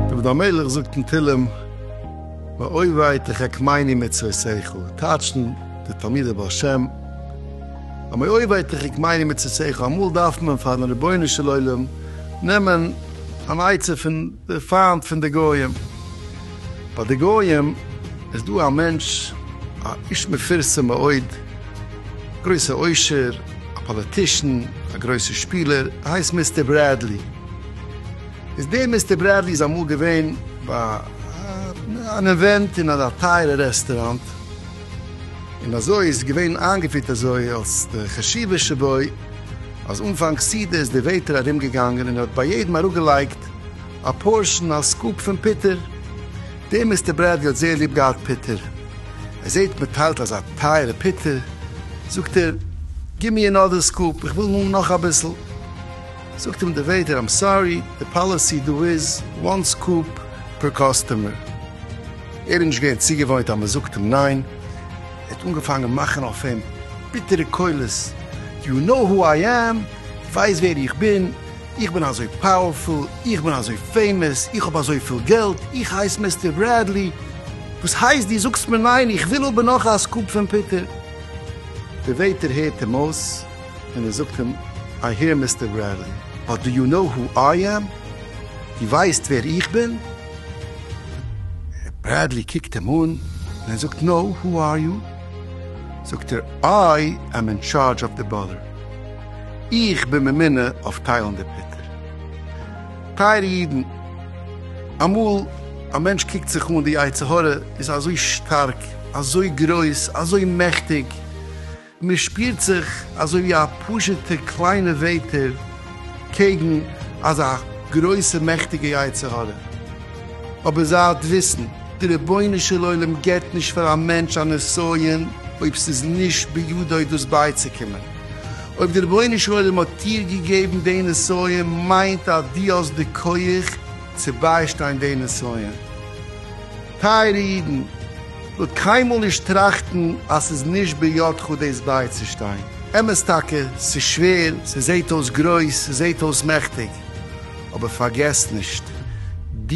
דוד המלך זאגט אין תהלים, ואוי וויי תחכמני מצוותיך, טייטשן די תלמידי בעל שם, אמער אוי וויי תחכמני מצוותיך, אמאל דארף מען פארן רבונו של עולם נעמען אן עצה פון די פיינט פון די גויים, ביי די גויים איז דא א מענטש א איש מפורסם מאוד, גרויסע עושר, א פאליטישן, א גרויסע שפילער, ער הייסט מיסטער ברעדלי. איז דער מיסטער ברעדלי איז אמאל געווען ביי אן אווענט אין א טייערע רעסטוראנט, און אזוי איז געווען איינגעפירט אזוי אלס די חשיבות שבו, אז אנפאנג סעודה איז דער וועיטער ארום געגאנגען און ער האט ביי יעדעם אראפ געלייגט, א פארשן א סקופ פון פיטער. דער מיסטער ברעדלי האט זייער ליב געהאט פיטער. ער זעהט מען טיילט אזא טייערע פיטער, זאגט ער, גיב מיר אנאדער סקופ, איך וויל האבן נאך אביסל. זאגט אים דער וועיטער, איים סארי, די פאליסי דא איז וואן סקופ פער קאסטומער. ער איז נישט געווען צוגעוואוינט אז מען זאגט אים ניין. ער האט אנגעפאנגען מאכן אויף אים ביטערע קולות, יו נאו הו איי עם, ווייסט ווער איך בין? איך בין אזוי פאוערפול, איך בין אזוי פעימעס, איך האב אזויפיל געלט, איך הייס מיסטער ברעדלי, וואס הייסט דו זאגסט מיר ניין, איך וויל האבן נאך א סקופ פון פיטער. דער וועיטער הערט אים אויס און ער זאגט אים, איי העיר מיסטער ברעדלי, באט דו יו נאו הו איי עם? דו ווייסט ווער איך בין? ברעדלי קוקט אים אן און ער זאגט, נאו, הו אר יו? זאגט ער, איי עם אין טשארדזש אוו די בארדער. איך בין ממונה אויף טיילן די פוטער. טייערע אידן, אמאל א מענטש קוקט זיך אן, די יצר הרע איז אזוי שטארק, אזוי גרויס, אזוי מעכטיג, מען שפירט זיך אזוי ווי א פשוטע קליינע וועטער קעגן אזא גרויסע מעכטיגע יצר הרע. אבער זייט וויסן, די רבונו של עולם געבט נישט פאר א מענטש א נסיון אויב ס'איז נישט בידו דאס בייצוקומען. אויב די רבונו של עולם האט דיר געגעבן די נסיון מיינט אז דו האסט די כח צו ביישטיין די נסיון. טייערע אידן, מ'זאל קיינמאל נישט טראכטן אז ס'איז נישט בידך דאס בייצושטיין. אמת טאקע, ס'איז שווער, ס'זעט אויס גרויס, ס'זעט אויס מעכטיג, אבער פארגעס נישט, דו,